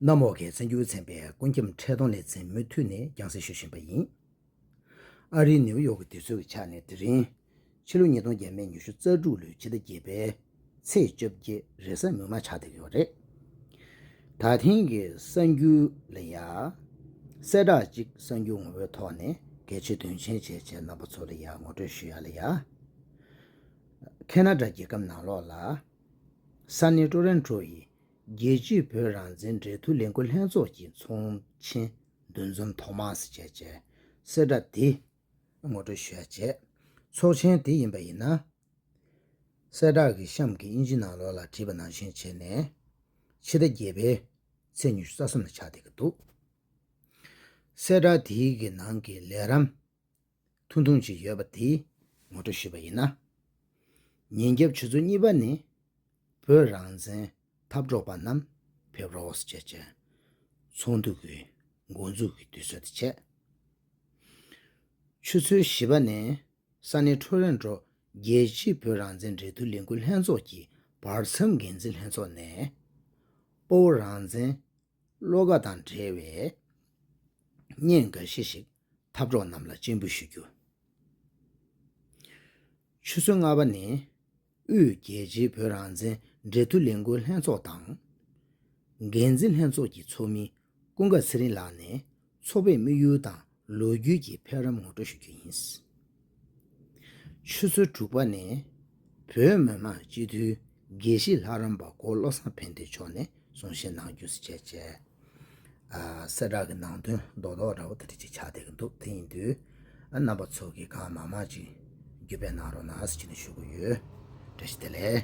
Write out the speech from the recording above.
གནམ་འོག་གི་བཙན་བྱོལ་ཚན་པས་ཀུན་ཁྱབ་འཕྲལ་སྡོམ་ལེ་ཚན་མུ་མཐུད་ནས་རྒྱང་བསྲིང་ཞུ་བཞིན་པ་ཡིན། ཨ་རིའི་ནེའུ་ཡོག་གི་དུས་ཚོད་ཀྱི་ཆ་ནས་དེ་རིང། ཕྱི་ལོ་ཉིས་སྟོང་བརྒྱད་མའི་ཉི་ཤུ་རྩ་དྲུག་ལོའི་ཕྱི་ཟླ་བརྒྱད་པའི་ཚེས་བཅོ་བརྒྱད་རེས་གཟའ་མིག་དམར་ཆགས་བསྡད་ཡོད་རེད། ད་ཐེངས་ཀྱི་གསར་འགྱུར་ལ་ཡང། གསལ་བསྒྲགས་གཅིག་གསར་འགྱུར་ངོ་བོའི་ཐོག་ནས་གལ་ཆེ་དོན་ཆེན་བྱས་བྱས་རྣམ་པ་ཚོ་ལ་ཡང་ངོ་སྤྲོད་ཞུ་ཡ་ལ་ཡ། ཁེ་ན་དྲ་རྒྱལ་ཁབ་ནང་ལོགས་ལ། ས་གནས་ཀྲོ་རན་ཀྲོ་ཡི་རྒྱལ་སྤྱིའི་བོད་རང་བཙན་འབྲེལ་མཐུད་ལས་འགུལ་ལྷན་ཚོགས་ཀྱི་ཚོགས་ཆེན་འདུ་འཛོམས་ཐོག་མ་སི་ཇའི་ཇའི་གསལ་བསྒྲགས་འདི་ངོ་སྤྲོད་ཞུ་ཡ་བྱས། ཚོགས་ཆེན་དེ་ཡིན་པ་ཡིན་ན། གསལ་བསྒྲགས་ཀྱི་གཤམ་གྱི་དབྱིན་ཇི་ནང་ལོགས་ལ་བྲིས་པ་ནང་བཞིན་བྱས་ནས། ཕྱི་ཟླ་བརྒྱད་པའི་ཚེས་ཉི་ཤུ་རྩ་གསུམ་ལ་ཆགས་བསྡད་ཀྱི་འདུག་གསལ་བསྒྲགས་དེའི་གི་ནང་གི་ལས་རམས། ཐུང་ཐུང་ཅིག་ཡོད་པ་དེ་ངོ་སྤྲོད་ཞུས་པ་ཡིན་ན། ཉིན་རྒྱབ་ཆུ་ཚོད་གཉིས་པ་ནས་བོད་རང་བཙན་འཐབ་གྲོགས་པ་རྣམས་ཕེབས་རོགས་ཟེར་བྱས་རྗེས། ཚོགས་འདུ་གི་འགོ་འཛུགས་ཀྱི་དུས་ཚོད་དེ་བྱས། ཆུ་ཚོད་བཞི་པ་ནས་ས་གནས་ཁྲོ་རན་ཀྲོ་རྒྱལ་སྤྱིའི་བོད་རང་བཙན་འབྲེལ་མཐུད་ལས་འགུལ་ལྷན་ཚོགས་ཀྱི་བར་མཚམས་འགན་འཛིན་ལྷན་ཚོགས་ནས། སྤོ་བོ་རང་བཙན་བློ་ཁ་དང་འབྲེལ་བའི་བརྙན་འགའ་ཤས་ཤིག་འཐབ་གྲོགས་རྣམས་ལ་སྤྱན་འབུལ་ཞུ་རྒྱུ། ཆུ་ཚོད་ལྔ་པ་ནས་དབུས་རྒྱལ་སྤྱིའི་བོད་རང་བཙན་འབྲེལ་མཐུད་ལས་འགུལ་ལྷན་ཚོགས་དང། འགན་འཛིན་ལྷན་ཚོགས་ཀྱི་ཚོགས་མི་ཀུན་དགའ་ཚེ་རིང་ལགས་ནས་ཚོགས་པའི་དམིགས་ཡུལ་དང་ལོ་རྒྱུས་ཀྱི་འཕེལ་རིམ་ངོ་སྤྲོད་ཞུ་རྒྱུ་ཡིན། ཆུ་ཚོད་དྲུག་པ་ནས་བོད་མི་མང་སྤྱི་འཐུས་དགེ་བཤེས་ལྷ་རམས་པ་འཁོར་བློ་བཟང་ཕན་བདེ་མཆོག་ནས་གསུང་བཤད་གནང་རྒྱུ་སྐྱེས་བཅས། གསལ་བསྒྲགས་ཀྱི་ནང་དོན་རྡོག་རྡོག་འདྲ་བོ་དེ་འབྲི་ཆེད་ཕྱག་བསྟད་ཀྱི་འདུག་དེ་ཡིན་དུས་རྣམ་པ་ཚོ་གིས་གང་མང་མང་ཅིག་བརྒྱུད་སྤེལ་གནང་རོགས་གནང་ཞེས་ནས་ཞུ་གི་ཡོད། བཀྲ་ཤིས་བདེ་ལེགས།